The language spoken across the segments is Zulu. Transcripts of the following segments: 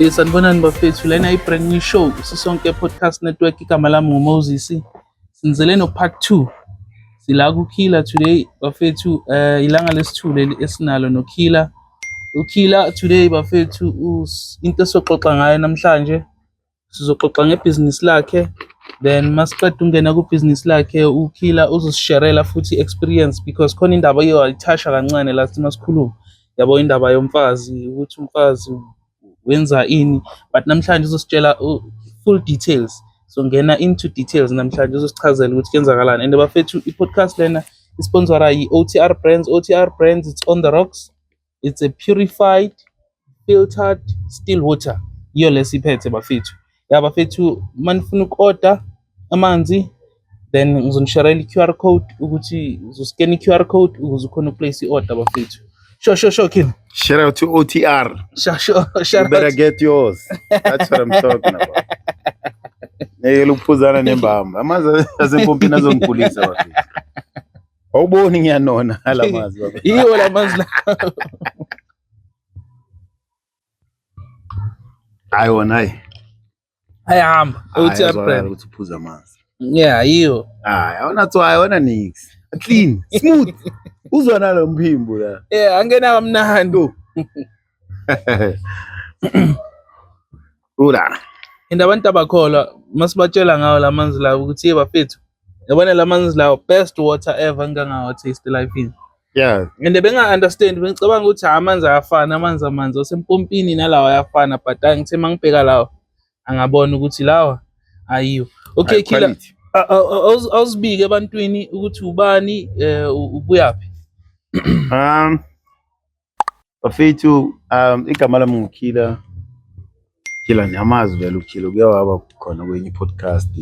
Eh, sanibonani bafethu lena i-brand new show sisonke podcast network igama lami ngumoses sinizele no-part two sila kukhila today bafethu um ilanga lesithule esinalo nokhila ukhila today bafethu into esoxoxa ngayo namhlanje sizoxoxa ngebhizinisi lakhe then masiqeda ungena kubhizinisi lakhe ukhila uzosisherela futhi experience because khona indaba iyo ayithasha kancane la sima sikhuluma yabo indaba yomfazi ukuthi umfazi wenza ini but namhlanje uzositshela full details so ngena into details namhlanje uzosichazela ukuthi kuyenzakalani and bafethu i-podcast lena isponsora yi-otr brands otr brands it's on the rocks it's a purified filtered still water yiyo lesiphethe bafethu ya bafethu manifuna uku-order amanzi then ngizonishayela i-QR code ukuthi uzoscan i-QR code ukuze ukhona ukuplace i-order bafethu sure sure sure Kim shout out to OTR sure sure shout you better out. get yours that's what I'm talking about ngeke lukuphuzana nembamba amanzi asempompini azongigulisa bafethu Awuboni ngiyanona alamazwi baba. Yiwo lamazwi la. Hayi wona hayi. Ayahamba. Uthi abrand. Uthi uphuza amanzi. Yeah, yiwo. Hayi, awona tswayo, awona nix. Clean, smooth. Uzwa nalo mphimbo la. Yeah, angena kamnandi. Ula. And abantu abakholwa masibatshela ngawo la manzi lawo ukuthi ye bafethu yabona la manzi lawo best water ever ngangawa taste life in. Yeah. And benga understand bengicabanga ukuthi ha amanzi ayafana amanzi amanzi osempompini nalawa ayafana but angithe mangibheka lawa angabona ukuthi lawa ayiwo. Okay killer. Awuzibike ebantwini ukuthi ubani eh ubuyaphi. Um Bafethu um igama lami nguKhila Khila niyamazi vele uKhila kuye waba khona kwenye podcast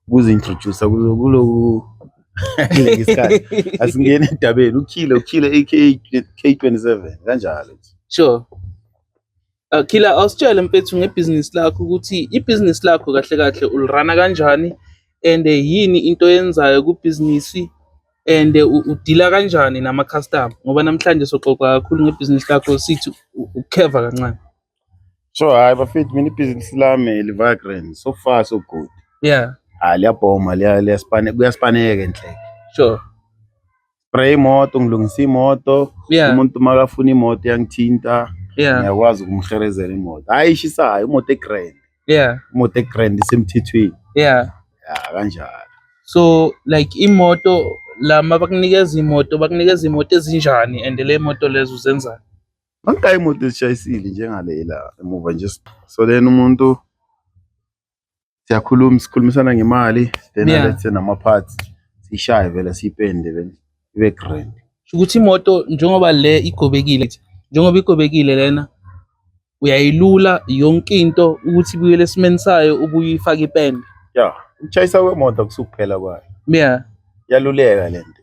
ukuzintroduce kuloku ngesikhathi asingene endabeni uKhila uKhila AK K27 kanjalo sure Akhila ah, awusitshele mfethu ngebhizinisi lakho ukuthi ibhizinisi lakho kahle kahle ulirana kanjani and yini into yenzayo kubhizinisi and udila kanjani nama customer ngoba namhlanje soxoxa kakhulu ngebhizinisi lakho sithi ukheva kancane. So hayi bafethu mina ibhizinisi lami livibrant so far so good. Yeah. Hayi liyabhoma liyaspaneka kuyaspane enhle. Sure. ngispray imoto ngilungisa imoto yeah. umuntu makafuna imoto yangithinta yeah. ngiyakwazi ukumherezela imoto hayi ishisayo imoto egrand yeah. imoto egrand isemthethweni yeah. ya kanjalo so like imoto lama bakunikeza imoto bakunikeza imoto ezinjani and le moto lezo uzenzani Bangayi imoto ezishayisile njengalela emuva nje so then umuntu siyakhuluma sikhulumisana ngemali then Yeah. alethe nama-parts siyishaye vele siyipende vele ibe grand Sho ukuthi imoto njengoba le igobekile njengoba igobekile lena uyayilula yonke into ukuthi ibuyele esimeni sayo ubuye uyifake ipende ya ukushayisa kwemoto kusukuphela kwayo yeah iyaluleka le nto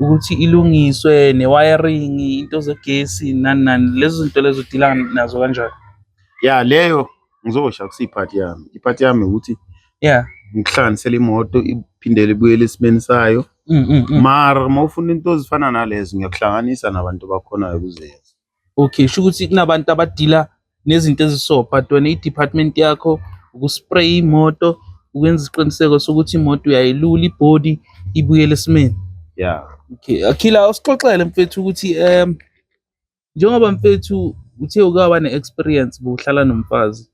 ukuthi ilungiswe ne-wiring into zegesi nani nani lezo zinto lezo udila nazo kanjani ya leyo ngizosho akusiyiphathi yami iphathi yami ukuthi ya ngikuhlanganisela imoto iphindele ibuyele esimeni sayo mm, mm, mm. mara uma ufuna into ezifana nalezo ngiyakuhlanganisa nabantu bakhonayo kuzenza Okay, kusho ukuthi kunabantu abadila nezinto eziso but wena i-department yakho ukuspraye imoto ukwenza isiqiniseko sokuthi imoto uyayilula ibody ibuyele esimeni yeah okay akhila usixoxele mfethu ukuthi um njengoba mfethu uthe ukaba ne-experience bokuhlala nomfazi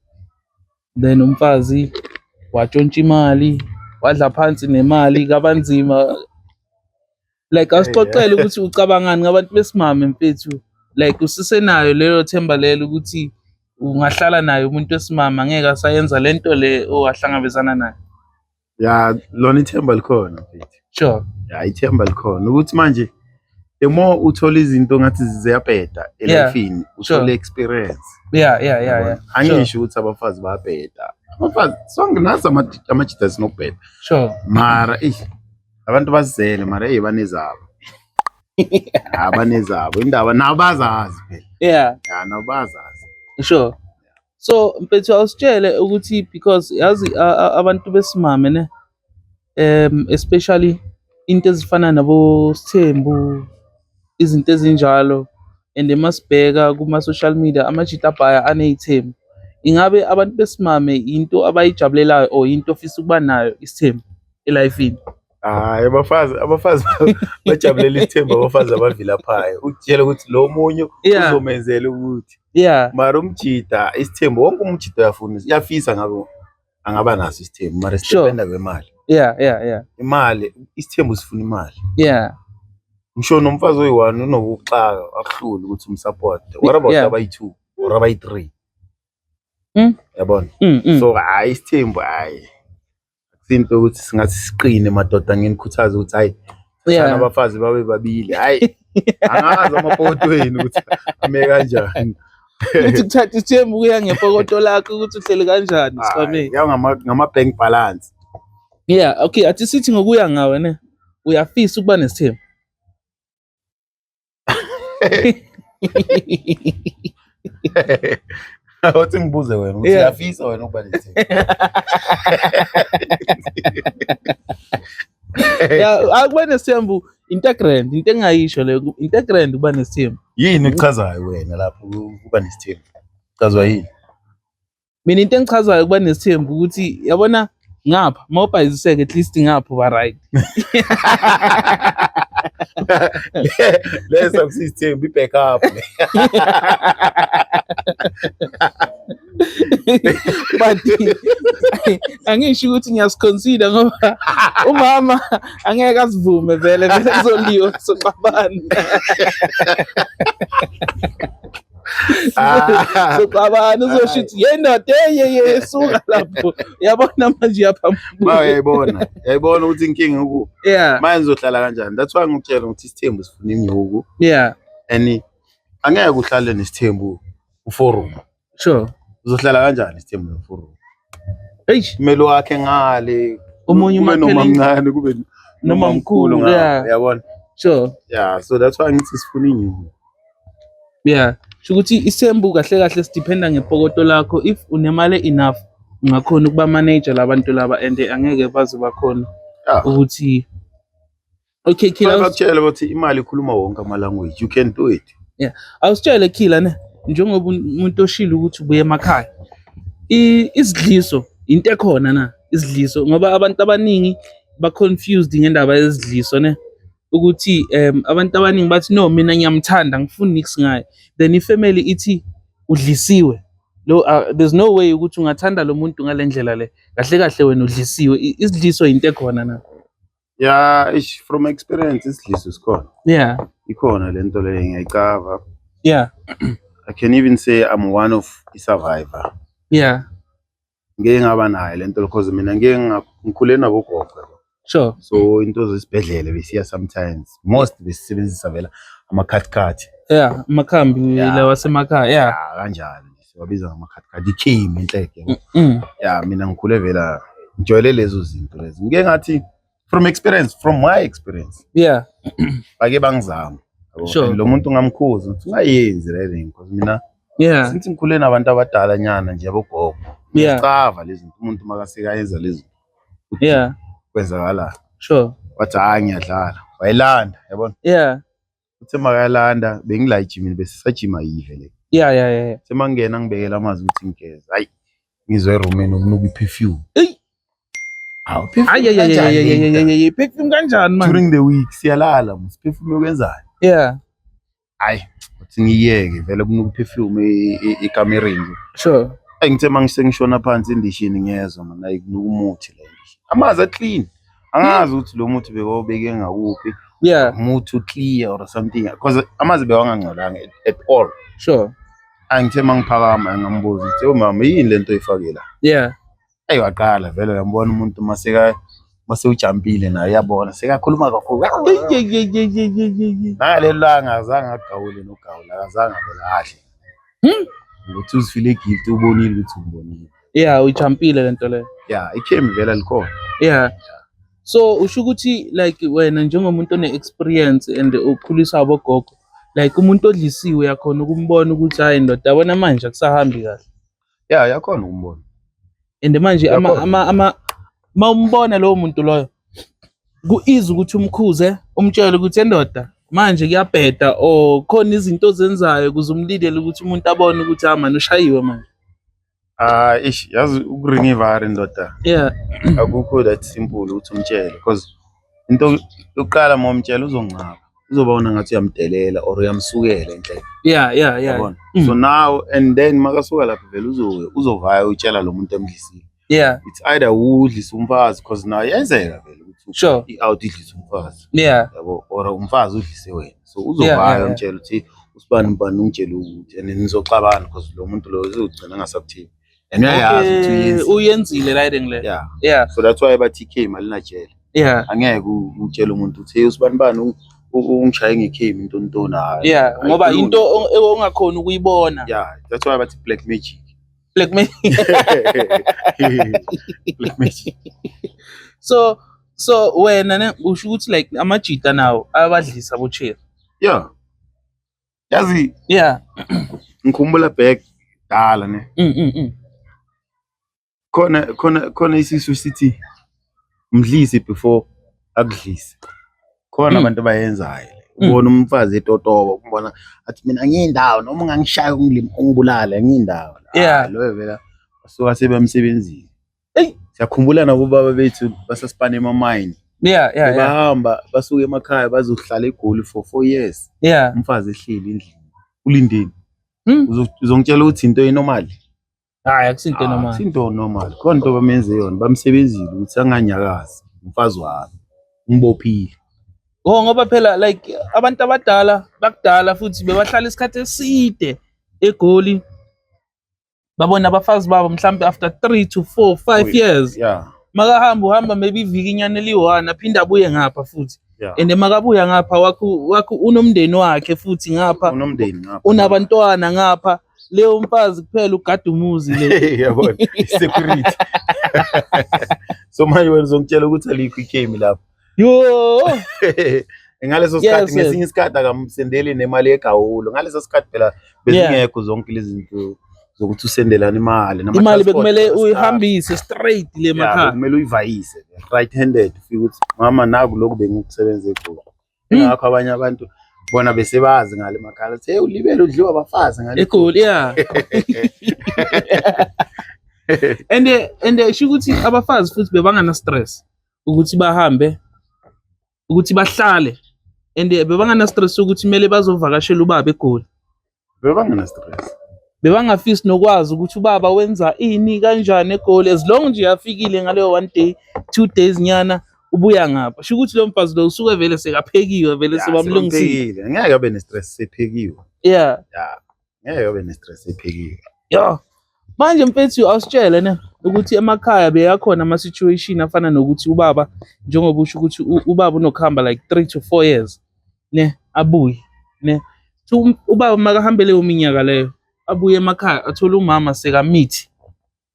then umfazi watshontsha imali wadla phansi nemali kabanzima like asixoxele ukuthi ucabangani ngabantu besimame mfethu like usisenayo lelo themba lelo ukuthi ungahlala naye umuntu wesimame angeke asayenza lento le owahlangabezana nayo ya lona ithemba likhona mfethu sure ya ithemba likhona ukuthi manje the more uthola izinto ngathi ziyabheda Yeah, elifini sure. uthole experience yeah yeah yeah yeah sure angisho ukuthi abafazi bayabheda abafazi sonke nazi ama- amajita sinokubheda sure mara eish abantu bazizele mara ey banezabo Ah, banezabo indaba nabo bazazi phela yeah Ya, nabo bazazi sure so mfethu awusitshele ukuthi because yazi abantu besimame ne um especially into ezifana nabo Sthembu izinto ezinjalo and emasibheka kuma social media amajita abhaya anezithembu ingabe abantu besimame yinto abayijabulelayo or yinto ofisa ukuba nayo isithembu elifini Hayi abafazi abafazi bajabulela isithembu abafazi abavilaphayo ukutshela ukuthi lo munye Yeah. uzomenzela ukuthi yeah mara umjida isithembu wonke umjida uyafuna uyafisa ngabe angaba naso isithembu mara Sure. sidependa kwemali yeah yeah yeah imali isithembu sifuna imali yeah ngisho nomfazi oyi-one unokuxaka akuhluli ukuthi umsapota what about Yeah. abayi-two or abayi-three Mm. yabona mm, mm. so hhayi isithembu hhayi Simple ukuthi singathi siqine madoda nginikhuthaza ukuthi hayi sana abafazi babe babili hayi angazi amapoto wenu ukuthi ame kanjani ukuthi kuthatha isithembu kuya ngepokoto lakho ukuthi uhleli kanjani sibameni ya ngama ngama bank balance yeah okay athi sithi ngokuya ngawe ne uyafisa ukuba nesithembu Othi ngibuze wena ukuthi uyafisa wena ukuba nethi. Ya akuba nesithembu integrand into engayisho leyo integrand ukuba nesithembu. Yini ekuchazayo wena lapho ukuba nesithembu? Chazwa yini? mina into engichazayo ukuba nesithembu ukuthi yabona ngapha mawubhayiziseke at least ngapha uba right leso kusithembu i-back up but angisho ukuthi ngiyasiconsider ngoba umama angeke asivume vele vele kuzoliwa soxabana soxabana uzosho ukuthi yendoda eyeye suka lapho yabona manje yaphambuka yayibona yayibona ukuthi inkinga uku yeah manje uzohlala kanjani that's why ngikutshela ukuthi isithembu sifuna inyuku yeah and angeke uhlale nesithembu uforum sure uzohlala kanjani isithembu noforum eish kumele wakhe ngale Omunye kube noma umakheleni. mncane kube Noma noma mkhulu, mkhulu ngale, yeah. yabona sure yeah so that's why ngithi sifuna inyuku yeah sho ukuthi isembu kahle kahle sidependa ngepokoto lakho if unemali enough ungakhona ukuba manager labantu laba and angeke baze bakhona yeah ukuthi Okay, Killer. Ngakutshela ukuthi imali ikhuluma wonke ama language. You can do it. Yeah. Awusitshele Killer ne njengoba umuntu oshilo ukuthi ubuye emakhaya. I- Isidliso into ekhona na isidliso ngoba abantu abaningi ba confused ngendaba yezidliso ne ukuthi um abantu abaningi bathi no mina ngiyamthanda ngifuni nix ngaye then ifamily ithi udlisiwe lo uh, there's no way ukuthi ungathanda lo muntu ngalendlela le kahle kahle wena udlisiwe I- isidliso into ekhona na ya ish from experience isidliso sikhona yeah ikhona le nto leyo ngiyayicava yeah i can even say i'm one of i-survivor yeah ngeke ngaba nayo le nto because mina ngeke nga- ngikhule nabogogo yabo. sure so into zesibhedlele besiya sometimes most besisebenzisa vela amakhathikhathi yeah amakhambi Yeah. lawa asemakhaya yeah Ah, kanjani siwabiza ngamakhathikhathi ikhimi inhleke yabo. Mm, mm. ya mina ngikhule vela ngijwayele lezo zinto lezi ngike ngathi from experience from my experience yeah bake bangizama yabo. Sure. And lo muntu ngamkhuza ukuthi ungayenzi le thing because mina yeah since ngikhule nabantu abadala nyana nje abogogo Yeah. ngiyacava lezi zinto umuntu makasekayenza lezi zinto ukuthi yeah kwenzakalani sure wathi hayi ngiyadlala wayilanda yabona yeah uthe makalanda bengila ejimini besisajima yive le ya ya ya semangena ngibekela amazi ukuthi ngigeze hayi ngizwe erumini ukunuka i-perfume eyi hayi perfume kanjani manje during the week siyalala mos perfume yokwenzani yeah hayi uthi ngiyeke vele kunuka i-perfume ekamereni nje sure ayi ngithe mangise ngishona phansi endishini ngiyezwa manje ayikunuka umuthi le amanzi aclean angazi ukuthi lo muthi bekawubeke ngakuphi yeah umuthi uclear or something because amazi bewangangcolanga at all sure angithe mangiphakama ngambuza ukuthi umama oh, yini lento oyifake la yeah ayi waqala vele uyambona umuntu maseka mase ujampile naye uyabona sekakhuluma kakhulu naleli langa azange agawule nogawula akazange abelahle hmm? ukuthi uzifile guilty ubonile ukuthi umbonile Yeah, uyijampile lento leyo. Yeah, ikhemi vela likhona. Yeah. So usho ukuthi like wena njengomuntu one experience and ukhuliswa abogogo like umuntu odlisiwe yakhona ukumbona ukuthi hayi ndoda yabona manje akusahambi kahle. Yeah, yakhona ukumbona. And manje ama Yakhona. ama ama uma umbona lowo muntu loyo kuiza ukuthi umkhuze umtshele ukuthi endoda manje kuyabheda or khona izinto ozenzayo kuze umlilele ukuthi umuntu abone ukuthi ah manje ushayiwe manje. Ah, ish, yazi ukuringa ivari ndoda. Yeah. Akukho that simple ukuthi umtshele because into yokuqala uma umtshela uzongcaba. Uzobona ngathi uyamdelela or uyamsukela enhle. Yeah, yeah, yeah. Yabona? Mm. So now and then makasuka lapho vele uzowe uzovaya utshela lo muntu emdlisile. Yeah. It's either udlisa umfazi because nayo yenzeka vele ukuthi Sure. i-out idlisa umfazi. Yeah. Yabo or umfazi udlise wena. so uzobhala umtshela ukuthi usibani ubani ungitshela ukuthi and nizoxabana because lo muntu lo uzogcina angasakuthibi and uyayazi ukuthi uyenzile right ngle yeah yeah so that's why bathi ikhe imali najele yeah angeke utshele umuntu ukuthi hey usibani bani ungishaye ngekhemi into ntona yeah ngoba into ongakhona ukuyibona yeah that's why bathi black magic Black magic. Black magic. so so wena ne usho ukuthi like amajita nawo ayabadlisa bocheri. Yeah. Yazi yeah. Ngikhumbula back dala ne. Mm mm. mm. Khona khona khona isisu sithi mdlise before akudlise khona hmm. abantu abayenzayo hmm. ubona umfazi etotoba umbona athi mina ngiyindawo noma ungangishaya umlimi ungibulale ngiyindawo yeah ah, loyo vela suka sebemsebenzini hey siyakhumbula nabobaba bethu basasipana emamayini yeah yeah bahamba basuke emakhaya bazohlala egoli for 4 years yeah umfazi ehleli endlini ulindeni hmm. uzongitshela ukuthi into enormal hayi akusinto normal ah, sinto normal khona into bamenze yona bamsebenzile ukuthi anganyakazi umfazi wami umbophile Oh ngoba phela like abantu abadala bakudala futhi bebahlala isikhathi eside eGoli babona abafazi babo mhlambe after 3 to 4 5 years yeah makahamba uhamba maybe iviki inyana eliyi-one aphinde abuye ngapha futhi yeah. and makabuya ngapha wakho wakho unomndeni wakhe futhi ngapha unomndeni ngapha unabantwana ngapha leyo umfazi kuphela ugada umuzi le yabona security so manje wena uzongitshela ukuthi alikho ikhemi lapho yo ngaleso sikhathi yes, ngesinye isikhathi akamsendeli nemali yegawulo ngaleso sikhathi phela bezingekho zonke lezi zinto zokuthi usendelana imali imali bekumele uyihambise straight le makhaya kumele uyivayise right handed ufike ukuthi mama naku lokhu bengikusebenzele kulo Hmm. Ingakho abanye abantu bona besebazi ngale makhala hey ulibele udliwa abafazi ngale egoli yeah and and isho ukuthi abafazi futhi bebangana stress ukuthi bahambe ukuthi bahlale and bebangana stress ukuthi kumele bazovakashela ubaba egoli bebangena stress bebangafisi nokwazi ukuthi ubaba wenza ini kanjani egoli as long nje yafikile ngaleyo one day two days nyana ubuya ngapha sho ukuthi lo mfazi lo usuke vele sekaphekiwe vele sebamlungisile ngeke abe ne-stress sephekiwe yeah yeah ngeke abe ne-stress sephekiwe yeah manje mfethu awusitshele ne ukuthi emakhaya beyakhona ama situation afana nokuthi ubaba njengoba usho ukuthi ubaba unokuhamba like 3 to 4 years ne abuye ne so um, ubaba makahambe leyo minyaka leyo abuye emakhaya athole umama sekamithi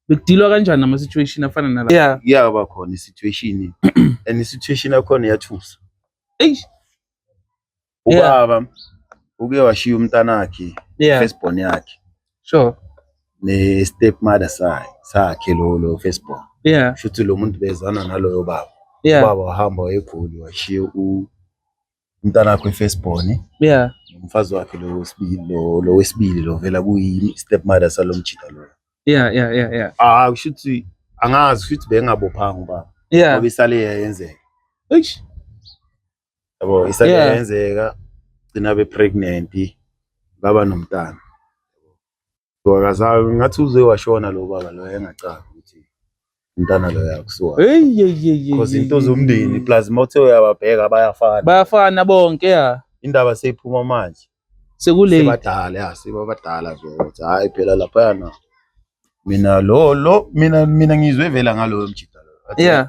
bekudilwa kanjani ama situation afana nala yeah iyaba khona i situation and i situation yakhona yathusa eish ubaba uke washiya umntanakhe yeah. first born yakhe sure ne step mother sakhe sakhe lo lo Facebook yeah futhi lo muntu bezana naloyo baba yeah baba wahamba egoli washiya u umntana wakhe Facebook yeah umfazi wakhe lo wesibili lo lo wesibili lo vela kuyi step mother salomjita lo yeah yeah yeah yeah ah kushuthi angazi futhi bengabophanga ubaba yeah ngoba isale yenzeka eish yabo isake Yeah. yenzeka gcina be pregnant baba nomntana wakazayo ngathi uze washona lo baba lo engacanga ukuthi umntana lo yakusuka Hey, hey, hey, hey, because hey, into hey, zomndeni hey. plus mothe uyababheka bayafana bayafana bonke ya indaba seyiphuma manje sekulate sebadala ya sebabadala nje ukuthi hayi phela laphayana mina lo lo mina mina ngizwe vela ngaloyo mjita lo Athi, yeah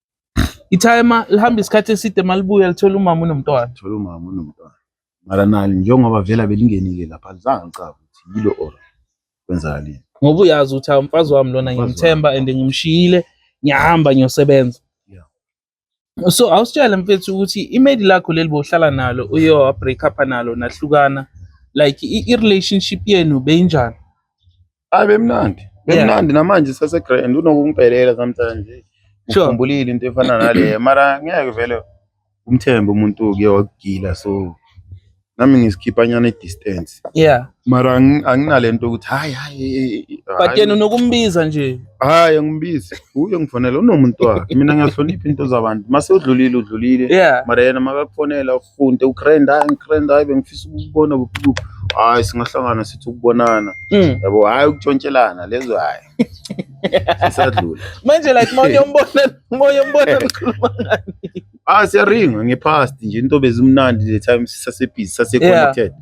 Ithayema lihamba isikhathi eside malibuya lithola umama unomntwana. Thola umama unomntwana. Mara nali njengoba vela belingenile lapha lizange licabe ukuthi yilo or kwenzakaleni. Ngoba uyazi ukuthi hawu mfazi wami lona Mfazi ngimthemba and ngimshiyile ngiyahamba ngiyosebenza. Yeah. So awusitshele mfethu ukuthi imedi lakho leli bohlala nalo uye wa break up nalo nahlukana like i, i relationship yenu beyinjani? Hayi bemnandi. Bemnandi namanje sase grand unokungipelela sometimes. Sure. Ukhumbulile into efana nale mara ngeke vele umthembe umuntu uke wakugila so nami ngisikhipha nyana i-distance yeah mara anginalento ukuthi hayi hayi but yena unokumbiza nje hayi angimbizi uye ngifonela unomuntu wakhe mina ngiyahlonipha into zabantu mase udlulile udlulile yeah mara yena makakufonela Funde ugrand hayi ngigrand hayi bengifisa ukubona kuqhu. Hayi singahlangana sithi ukubonana. Mm. Yabo hayi ukutshontshelana lezo hayi. Sisadlula. Manje like moya umbona moya umbona ukhuluma ngani? Ah siyaringa ngepast nje into bezimnandi le time sisasebhizi sase connected. Yeah.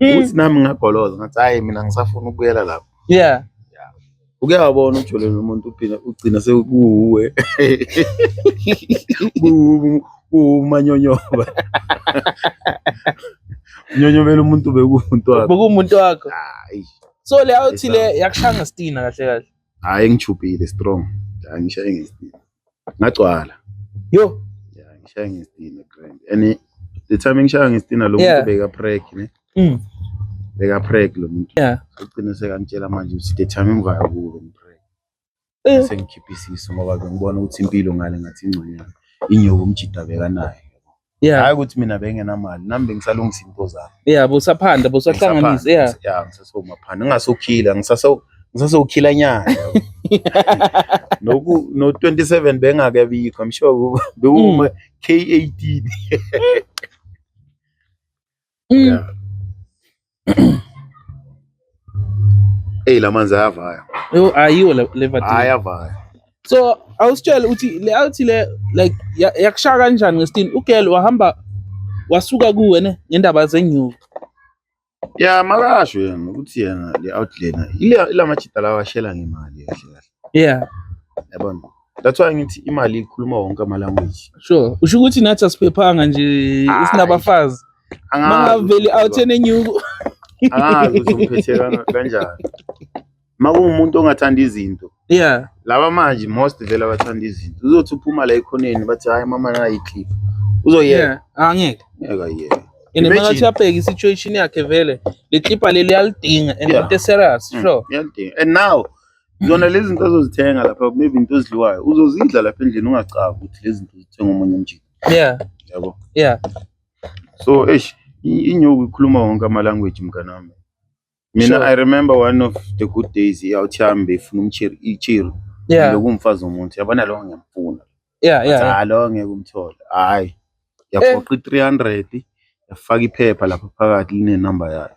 Mm. ukuthi nami ngagoloza ngathi hayi mina ngisafuna ukubuyela lapho yeah uke wabona ujolele umuntu uphina ugcina sekuwuwe Kuwu- kuwumanyonyoba unyonyobela umuntu bekuwumuntu wakhe bekuwumuntu wakho Hayi. so le out le yakushaya ngestina kahle kahle hhayi ngijubhile strong Hhayi, ngishaye ngesibili ngagcwala yo yeah ngishaya ngestina grand and the time ngishaya ngestina lo muntu beka prank ne mm beka prank lo muntu yeah ugcine sekangitshela manje ukuthi the time ngivaya kuwe ngiprank eh. sengikhipha isiso ngoba ngibona ukuthi impilo ngale ngathi ingconyana inyoka umjida bekanayo yeah hayi ukuthi mina bengenamali nami bengisalungisa into zami yeah busaphanda busahlanganisa yeah yeah ngisasewumaphanda ngingasokhila ngisase ngisasokhila nyana noku no 27 bengake bikho i'm sure bekuma mm. k18 Mm. Yeah. Hey lamanzi ayavaya. Yo ayiwo lever. Ayavaya. So awusitshele uthi le awuthi le like yakushaya kanjani ngesitini ugirl wahamba wasuka kuwe ne ngendaba zenyuka. Yeah makasho yena ukuthi yena le outliner ile lamajita lawa shela ngemali kahle kahle. yeah yabona that's why ngithi imali ikhuluma wonke ama language sure usho ukuthi nathi asiphephanga nje isinabafazi mangaveli out enenyuko angazi ukuthi umphethe kanjani makungumuntu ongathanda izinto yeah laba manje most vele abathanda izinto uzothi uphuma la ekhoneni bathi hayi mama nayi clip uzoyeka yeah angeke ngeke yena and makathi abheke situation yakhe vele le clip leli yalidinga and into serious mm, sure yalidinga and now zona lezi zinto azozithenga lapha maybe into ezidliwayo uzozidla lapha endlini ungacabi ukuthi lezi zinto zithenga omunye umjini yeah yabo yeah so eish inyoku ikhuluma wonke ama language mnganami mina sure. i remember one of the good days yawuthihambe ifuna umchiri ichiri yeah lokumfazi omuntu yabona lo ngiyamfuna yeah yeah hayi lo ngeke umthole hayi yaphoqa i300 yafaka iphepha lapha phakathi line number yayo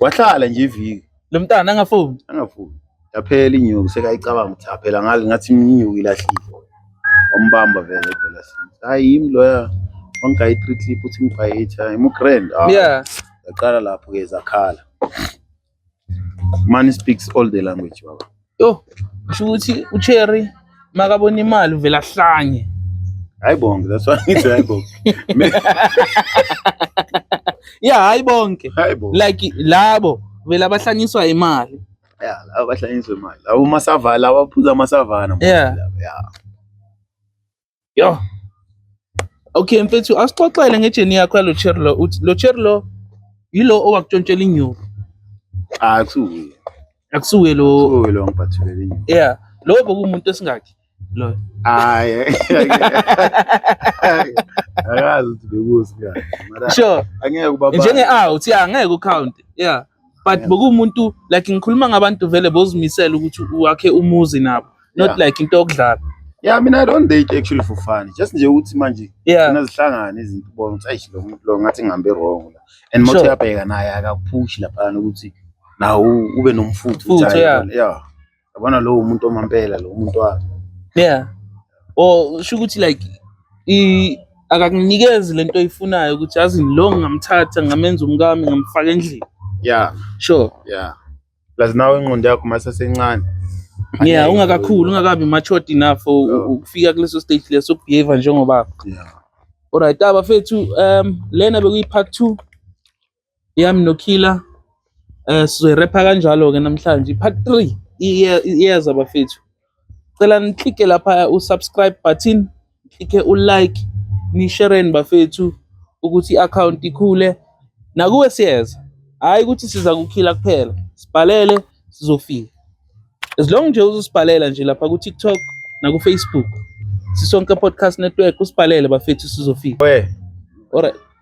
wahlala nje iviki lo mntana angafuni angafuni yaphela inyuku sekayicabanga ukuthi aphela ngale ngathi inyuku ilahlile wambamba vele edolasini hayi yimi loya wangigayi three clip uthi ngibhayitha imugrand ah, yeah yaqala lapho-ke zakhala money speaks all the language baba Yho, kusho ukuthi uCherry makabona imali uvela ahlanye. Hayi bonke, that's why ngithi hayi bonke. Yeah, hayi bonke. Hayi bonke. Like labo vele abahlanyiswa imali. Yeah, laba bahlanyiswe imali. Laba masavana, laba baphuza amasavana. Yeah. Yeah. Yo. Okay mfethu asixoxele ngejeni yakho yalo cherry lo uthi lo cherry lo yilo owakutshontshela inyuku Cha akusuye. akusuke lo Kusuke lo ngibhathulele inyuku. yeah lo bokumuntu esingakhi lo Hayi. Akazi ukuthi bekuzi kahle. Mara sure angeke ubaba. njenge a uthi angeke ucount yeah but bokuwumuntu like ngikhuluma ngabantu vele bozimisela ukuthi wakhe umuzi nabo not Yeah. like into yokudlala Yeah, I mean, I don't date actually for fun. Just nje ukuthi manje yeah khona zihlangane izinto ubona ukuthi ayish lo muntu lo ngathi ngihambe wrong la. And mothe Sure. yabheka naye akakuphushi lapha ukuthi nawo ube nomfutho Mfutho, ukuthi ayi, yeah. yabona, yeah. yabona lowo muntu omampela lo muntu wami yeah or oh, sho ukuthi like i akakunikezi lento oyifunayo ukuthi azi lo ngamthatha ngamenza umkami ngamfaka endlini yeah sure yeah plus nawe ingqondo yakho masesencane yeah ungakakhulu ungakabi matured enough ukufika kuleso stage leso ukubehave njengoba yeah alright abafethu um lena bekuyi part 2 yami noKiller eh sizoyirepha kanjalo ke namhlanje part 3 iyeza bafethu cela niklike lapha usubscribe button klike ulike nishereni bafethu ukuthi i-account ikhule nakuwe siyeza hhayi ukuthi siza kukhila kuphela sibhalele sizofika as long nje uzosibhalela nje lapha ku-tiktok nakufacebook sisonke podcast network usibhalele bafethu sizofika we alright